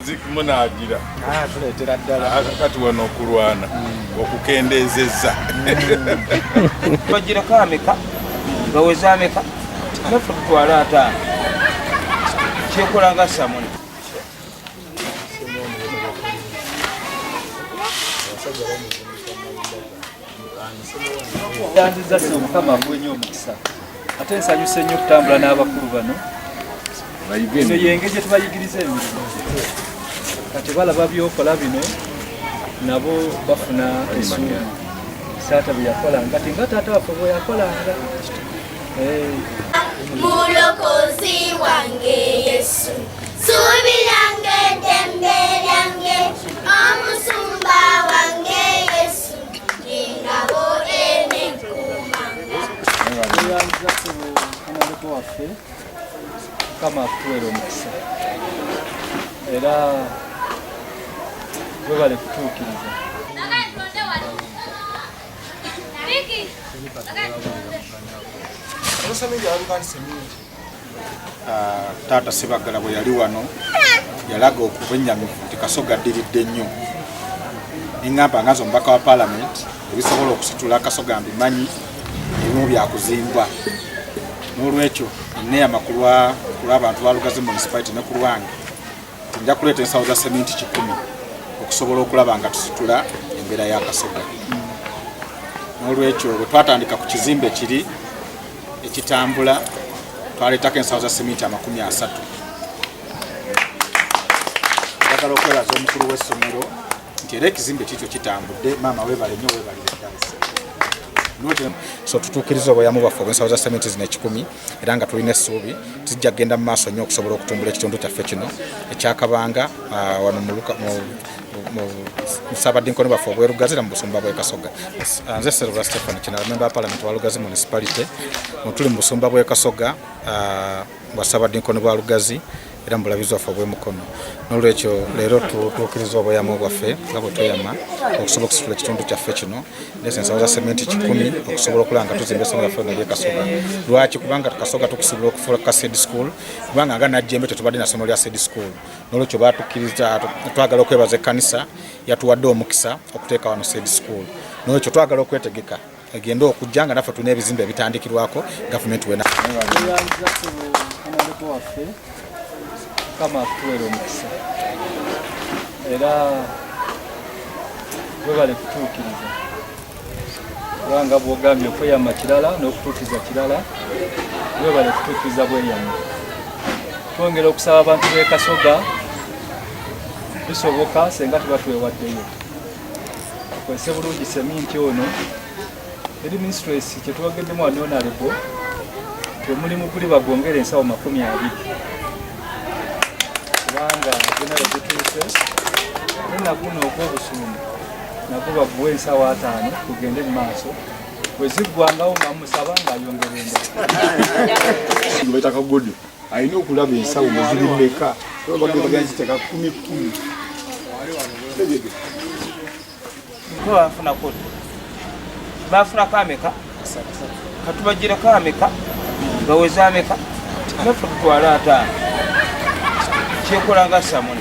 zikumunagira ah, tuletera ddala ah, kati wano okulwana hmm. okukendeezezza hmm. bagirako ameka baweze ameka naffe tutwale ataano kyekola nga samuni yandiza se omukama akuwe nyo omukisa ate nsanyuse nnyo okutambula n'abakulu bano eno yenge gye tubayigiriza emirimu kati balaba byokola bino nabo bafuna esuubi taata bye yakolanga ti nga taata waffe bwe yakolanga eh. mulokozi wange yesu suubi lyange eddembe lyange omusumba wange mukama akutuwere omukisa era webale kutuukiriza Thank you. Ah, taata Sebaggala bwe yali wano yalaga okubwennyamivu nti Kasoga addiridde nnyo neŋŋamba nga nze omubaka wa paalamenti ebisobola okusitula Kasoga mbimanyi ebimu byakuzimbwa n'olwekyo enneeyama ku lw'abantu ba Lugazi munisipaliti ne ku lwange nja kuleeta ensawo za seminti kikumi okusobola okulaba nga tusitula embeera ya Kasoga n'olwekyo bwe twatandika ku kizimbe kiri ekitambula twaleetako ensawo za seminti amakumi asatu njagala okwebaza omukulu w'essomero nti era ekizimbe kikyo kitambudde maama webale nyo webalire ddala so tutuukiriza obweyamo bwaffe obwensawo za seminti zino ekikumi era nga tulina essuubi tijja kugenda mu maaso nnyo okusobola okutumbula ekitundu kyaffe kino ekyakabanga ah, wano mu nsabadinkono baffe obwerugazira mu busumba bw'e Kasoga ah, nze Silver Stephen Kinala memba wa parliament wa Lugazi municipality mutuli mu busumba bw'e Kasoga ah, bwa nsabadinkono bwa Lugazi era mubulabizi waffe obw'emukono n'olwekyo leero tutuukiriza obweyamo bwaffe nga bwe tweyama okusobola okusitula ekitundu kyaffe kino nese ensawo za sementi kikumi okusobola okulaba nga tuzimba esomero yaffe nalye kasoga lwaki kubanga kasoga tukusobola okufuula ka sed school kubanga nga najjembe tetubadde na somero lya sed school nolwekyo batukiriza twagala okwebaza ekkanisa yatuwadde omukisa okuteeka wano said school nolwekyo twagala okwetegeka egende okujja nga naffe tulina ebizimbe ebitandikirwako gavumenti wena era webale kutuukiriza kubanga bwogambye okweyama kirala n'okutuukiza kirala webale kutuukiriza bweyama twongera okusaba abantu b'e kasoga bisoboka senga tuba twewaddeyo kwese bulungi seminti ono eri mistress kyetwogeddemu anonalebo temulimu guli bagongera ensawo makumi abiri kubanga gena wegutuuse enaguno ogw'obusumba nabo baguwa ensawo ataano kugende mu maaso bweziggwangawo nga musaba ng'ayongera endala alina okulaba ensawo muziri meka baganziteka kumi kumi bafunako bafunako ameka katubajireko ameka baweze ameka naffe tutwala ataano kyekola nga samuni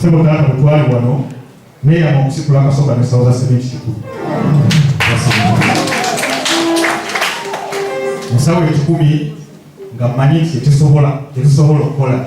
Sebo taata mutwali wano naye yama okusikula akasoga ne sauza sementi kikulu musawo ekikumi nga mmanyi nti tetusobola tetusobola okukola